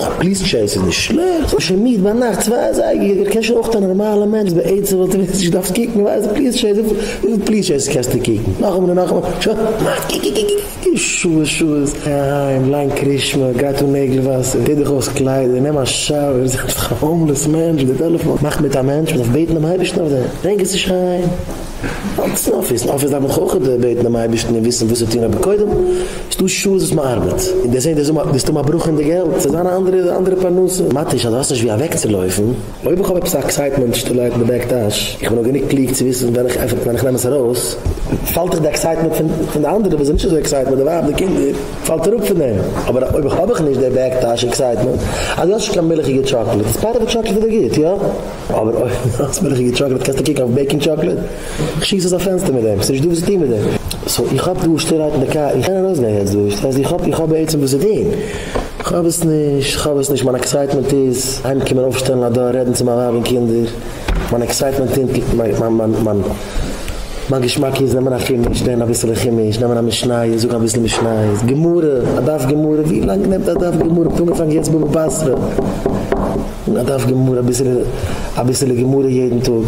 א פליס טשעיס איז נישט שלעכט, כ'בין שוין מיד ביינאכט צוויי אזייגער, קען שוין אויך א נארמאלע מענטש בעצם וואלט ער ווען נישט געדארפט קוקן ווייל די פליס טשעיס וויפיל פליס טשעיסעס קענסטו קוקן נאכאמאל און נאכאמאל שוין מיד קוקוקוקוקוקוקוק שעות שעות גיי אהיים ליין קרישמע גיי טו נעגל וואסער טו דיך אויס קליידער נעם א שאוער זיי דיך א האומלעס מענטש מיט די טעלעפאון מאך מיט א מענטש מ'דארף בעטן דעם אייבערשטן אויף דעם ברענג עס נישט אהיים. אויף אפיס, אפיס דארף מען חחח ד בעטן דעם אייבערשטן און וויסן וואס צו טון אבער קודם איז דא שעות וואס מען ארבעט און דער זעהט דער זאגט טו מיין ברכה אין די געלט ס'איז זיין א אנדערע אנדערע פרנסה מאט איז אז דו האסט נישט ווי אוועקצולויפן. אויב איך האב עפעס א עקסייטמענט שטילערהייט אין די בעק טאש, איך בין נאר גענוג קלוג צו וויסן ווען איך עפען עס ווען איך נעם עס ארויס, פאלט דאך די עקסייטמענט פון די אנדערע וואס זענען נישט אזוי עקסייטמענט די ווייב די קינדער פאלט אראפ פון דעם, אבער אויב איך האב איך נישט די בעק טאש עקסייטמענט אז דו האסט נישט קיין מילכיגע טשאקלעט איז פארעווע טשאקלעט איז דאך גוט יא? אבער אויב נאכטס בין איך אין די טשאקלעט קענסטו קוקן אויף בעיקינג טשאקלעט, איך שיס אויס א פענסטער מיט דעם, ס'נישט דא וואס צו טון מיט דעם. סאו איך האב דא שטער לייט אין די קאר, איך קען ארויסגיין יעצט דא, דאס הייסט איך האב איך האב בעצם וואס צו טון, איך האב עס נישט, איך האב עס נישט, מיין עקסייטמענט איז אהיימקומען אויפשטעלן א דאר רעדן צו מיין ווייב און קינדער, מיין עקסייטמענט טינקט מיין מיין מיין. מיין געשמאק איז נעמען א חומש לערנען אביסעלע חומש נעמען א משניות זאגן אביסל משניות גמרא א דף גמרא ווי לאנג נעמט א דף גמרא כ'האב אנגעפאנגען יעצט בבא בתרא א דף גמרא אביסעלע גמרא יעדן טאג.